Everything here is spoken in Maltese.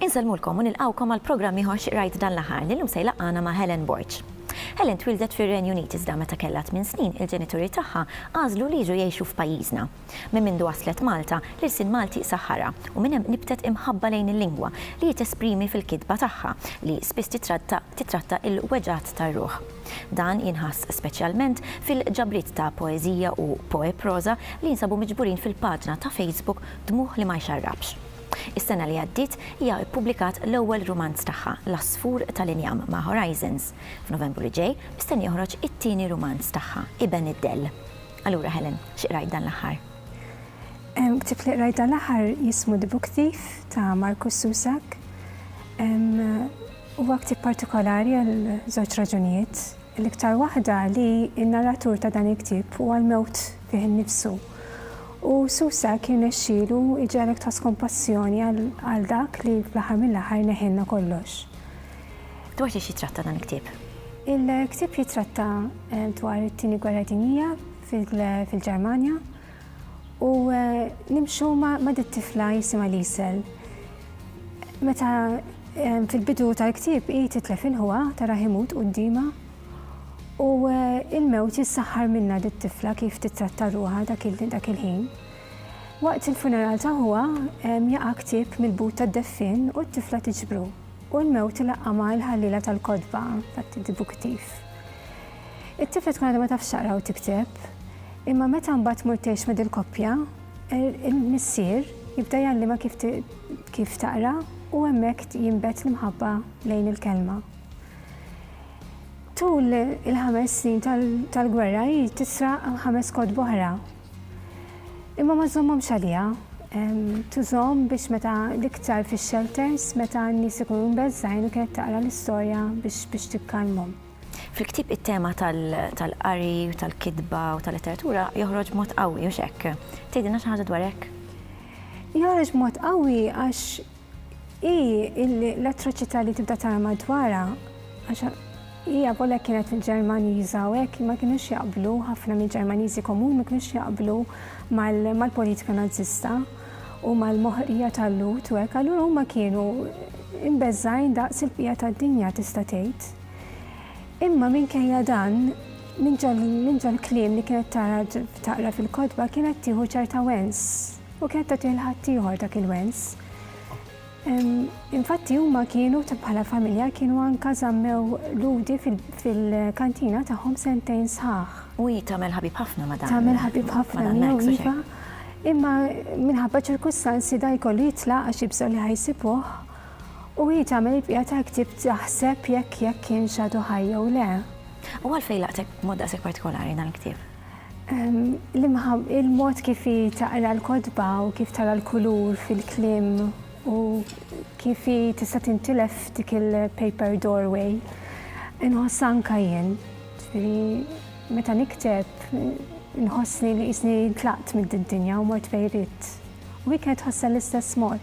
Insellmulkom u nilqawkom għal programm ieħor xi qrajt dan l-aħħar li llum se jlaqqana ma' Helen Borg. Helen twildet fir-Renju Unit iżda meta kellha tmien snin il-ġenituri tagħha għażlu li jiġu jgħixu f'pajjiżna. Minn mindu waslet Malta, l-ilsien Malti saħħarha, u minn hemm nibtet imħabba lejn il-lingwa, li hi tesprimi fil-kitba tagħha, li spiss titratta titratta il-weġgħat tar-ruħ. Dan jinħass speċjalment fil-ġabriet ta' poeżija u poeproża li jinsabu miġburin fil-paġna ta' Facebook Dmugħ li ma jxarrabx. Is-sena li għaddiet hija ppubblikat l-ewwel rumanz tagħha, L-Għasfur tal-Injam ma' Horizons. F'Novembru li ġej mistenni joħroġ it-tieni rumanz tagħha, Iben id-Dell. Allura Helen, xi qrajt dan l-aħħar? Ktieb li qrajt dan l-aħħar jismu The Book Thief ta' Markus Susak. Huwa ktieb partikolari għal żewġ raġunijiet. L-iktar waħda li n-narratur ta' dan il-ktieb huwa l-mewt fih innifsu. U Susa kien xilu iġalek tħoss kompassjoni għal dak li fl-aħħar mill-aħħar neħilna kollox. Dwar xiex jitratta dan il-ktieb? Il-ktieb jitratta eh, dwar it-tieni gwerra dinija fil-Ġermanja u eh, nimxu ma' dit-tifla jisima Lisel. Meta eh, fil-bidu tal-ktieb hi titlef il-ħuha tara ħimut qudiema u il-mewt jissaħħar minna dit-tifla kif titratta ruħa dak il-ħin. Waqt il-funeral ta' ħuha jaqa' ktieb mill-but tad-deffin u t-tifla tiġbru. u l-mewt laqqamha l-ħalliela tal-kotba, infatti tibu ktif. It-tifla tkun għadha ma tafx taqra u tikteb, imma meta mbagħad tmur tgħix ma' dil-koppja, il-missier jibda jgħallimha kif taqra u hemmhekk jinbet l-imħabba lejn il-kelma. Tul il-ħames snin tal-gwerra hi tisraq ħames kotba oħra Imma ma żommhomx għaliha. Tużhom biex meta l-iktar fix-shelters meta n-nies ikunu mbeżżgħin u kienet taqra l-istorja biex biex tikkalmhom. Fil-ktieb it-tema tal-qari u tal-kitba u tal-letteratura joħroġ b'mod qawwi, hux hekk? Tgħidilna xi ħaġa dwar hekk? Joħroġ b'mod qawwi għax Hi illi l-atroċità li tibda tara madwarha, għax hi avolja kienet il-Ġermaniża u hekk ma kinux jaqblu, ħafna mill-Ġermaniżi komuni ma kinux jaqblu mal-politika Nażista u mal-moħqrija tal-Lhud u hekk, allura huma kienu imbeżżgħin daqs il-bqija tad-dinja tista' tgħid. Imma minkejja dan, minn ġol-kliem li kienet tara taqra fil-kotba kienet tieħu ċerta wens. U kienet tagħtih 'l ħaddieħor dak il-wens. Infatti huma kienu bħala familja kienu anka żammew Lhudi fil-kantina tagħhom sentejn sħaħ. U hi tagħmel ħabib ħafna ma' dan. Tagħmel ħabib ħafna miegħu iva. Imma minħabba ċirkustanzi da jkollu jitlaq għax jibżgħu li ħajsibuh u hi tagħmel il-bqija tal-ktieb taħseb jekk jekk kienx għadu ħaj jew le. U għalfejn laqtek b'mod daqshekk partikolari dan il-ktieb? Il-mod kif hi taqra l-kotba u kif tara l-kulur fil-kliem u kif hi tista' tintilef f'dik il-paper doorway. Inħoss anka jien, ġifieri meta nikteb inħossni li qisni tlaqt mid-dinja u mort fejn ridt. U hi kienet tħossha l-istess mod.